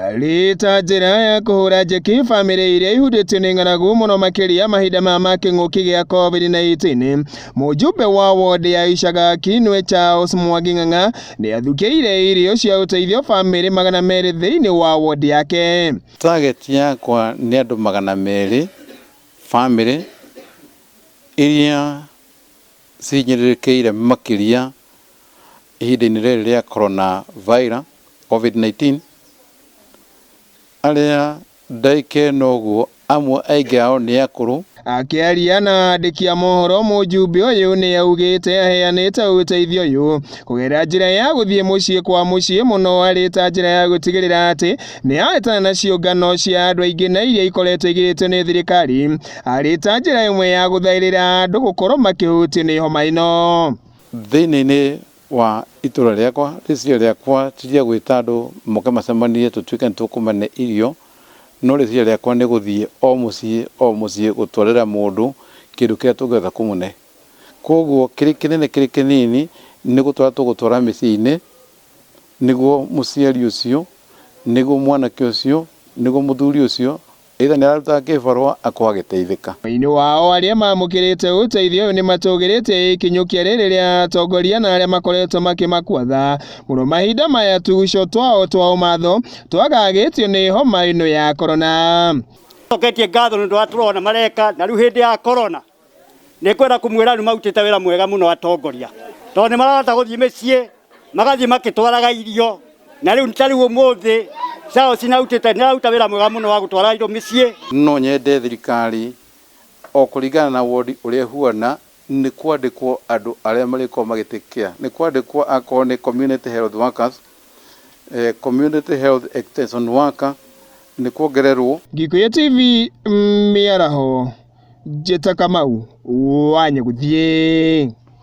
Arĩ ta njĩra ya kũhũra njeki famĩlĩ iria ihutĩtio nĩ ng'aragu mũno makĩria mahinda maya ma kĩng'ũki gĩa COVID-19, mũjumbe wa wondi ya Icaga Kinwe Charles Mwangi Ng'ang'a nĩ athukĩire irio cia ũteithio famĩlĩ magana merĩ thĩinĩ wa wondi yake. Target yakwa nĩ andũ magana merĩ famĩlĩ iria cihinyĩrĩrĩkĩire makĩria Ihinda-inĩ rĩrĩ rĩa Corona Virus, Covid-19, arĩa ndaikena ũguo amwe aingĩ ao nĩ akũrũ, Akĩaria na andĩki a mohoro mũjumbe ũyũ nĩ augĩte aheanĩte ũteithio ũyũ kũgerera njĩra ya gũthiĩ mũciĩ kwa mũciĩ mũno arĩ ta njĩra ya gũtigĩrĩra atĩ nĩ ahĩtana na ciũngano cia andũ aingĩ na iria ikoretwo igirĩtio nĩ thirikari arĩ ta njĩra ĩmwe ya gũthaĩrĩra andũ gũkorwo makĩhutio nĩ homa ĩno. Thĩinĩ-inĩ wa itũũra rĩakwa, rĩciria rĩakwa ti rĩa gwĩta andũ moke macemanie tũtuĩke nĩ tũkũmane irio, no rĩciria rĩakwa nĩ gũthiĩ o mũciĩ o mũciĩ gũtwarĩra mũndũ kĩndũ kĩrĩa tũngĩhota kũmũne. Kwoguo kĩrĩ kĩnene kĩrĩ kĩnini nĩ gũtwara tũgũtwara mĩciĩ-inĩ nĩguo mũciari ũcio, nĩguo mwanake ũcio, nĩguo mũthuri ũcio Either nĩ ararutaga kĩbarũa akoo agĩteithĩka. Thĩinĩ wao arĩa maamũkĩrĩte ũteithio ũyũ nĩ matũgĩrĩte ĩkinyũkia rĩrĩ rĩa atongoria na arĩa makoretwo makĩmakwatha mũno mahinda maya tuguco twao twa ũmatho twagagĩtio nĩ homa ĩno ya Korona. Nĩ tũcoketie ngatho nĩ ũndũ wa tũrona mareka na rĩu hĩndĩ ya Korona. Nĩngwenda kũmwĩra rĩu marutĩte wĩra mwega mũno atongoria, tondũ nĩ marahota gũthiĩ mĩciĩ magathiĩ magĩtwaraga irio, na rĩu ta rĩu ũmũthĩ Charles nĩ arutĩte nĩ araruta wĩra mwega mũno wa gũtwara indo mĩciĩ. No nyende thirikari, o kũringana na wondi ũrĩa ĩhuana, nĩ kwandĩkwo andũ arĩa marĩkoragwo magĩtake care, nĩ kwandĩkwo akorwo nĩ community health workers, Community Health Extension Worker nĩ kuongererwo. Gĩkũyũ TV Mĩaraho, Njĩta Kamau wa Nyagũthiĩ.